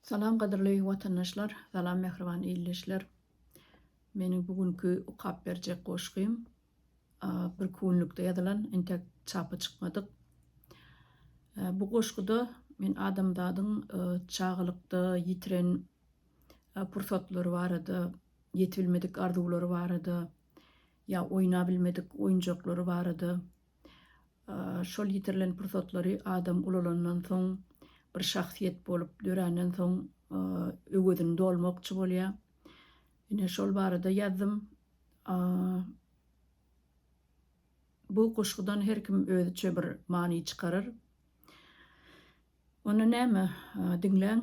Salam gadyrly watandaşlar salam mähriban ildeşler meniň bu günki okap berjek goşgym bir kunlukda ýazylan entek çapa çykmadyk bu goşguda men adamzadyň çagalykda ýitiren pursatlary barada ýetibilmedik arzuwlary barada ýa oýnabilmedik oýunjaklary barada Şol ýitirilen pursatlary adam ulalandan soň, bir şahsyýet bolup döränden soň öwezini dolmakçy bolýar. Ine, şol barada ýazdym. Bu goşgudan her kim özüçe bir many çykarar. Onda näme, diňläň,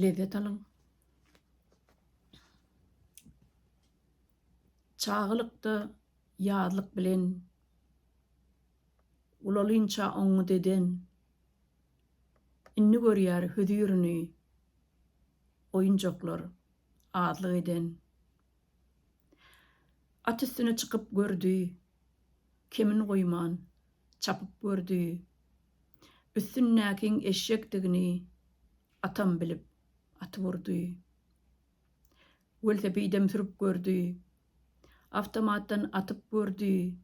lezzet alyň. Çagalykda Ýazlyk bilen ulalynça oňňy deden, Indi görýär hüzürini oýunjaklar azlyk eden. At üstüne çykyp gördi, kemin goýman çapyp gördi, Üstündäkiň eşekdigini atam bilip atyp urdy. Welosipedem sürüp gördi. Awtomatdan atyp gördi.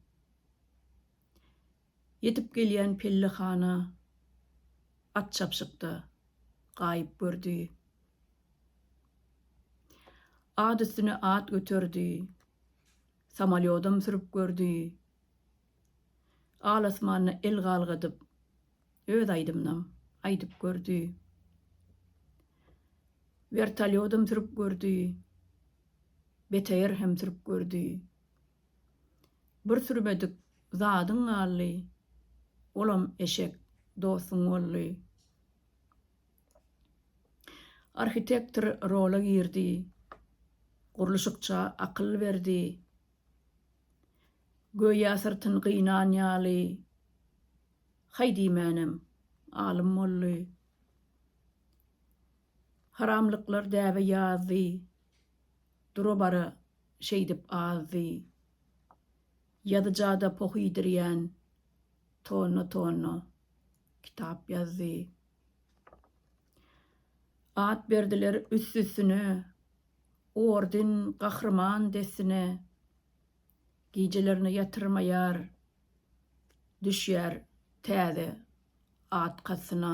Ýetip gelýän pellehana at çapyşykda gaýyp gördi. At üstüne at göterdi. Samolýodam sürüp gördi. Al-asmana el galgadyp, öz aýdymynam aýdyp gördi. Wertolýodam sürüp gördi. BTR hem sürüp gördi. Bir sürmedik zadyň galdy, olam eşek dostuň boldy. Arhitektor rola girdi. Gurluşykça akyl berdi. Göýä syrtyn gynan ýaly. Haý diýmänem, alym boldy. Haramlyklar däbe ýazdy. Dura-bara şeýdip azdy. Ýazyja-da poh iýdirýän. Tonna-tonna kitap ýazdy. At berdiler üst-üstüne. Orden, gahryman dessine. Gijelerine ýatyrmaýar, düşýär täze at kasyna.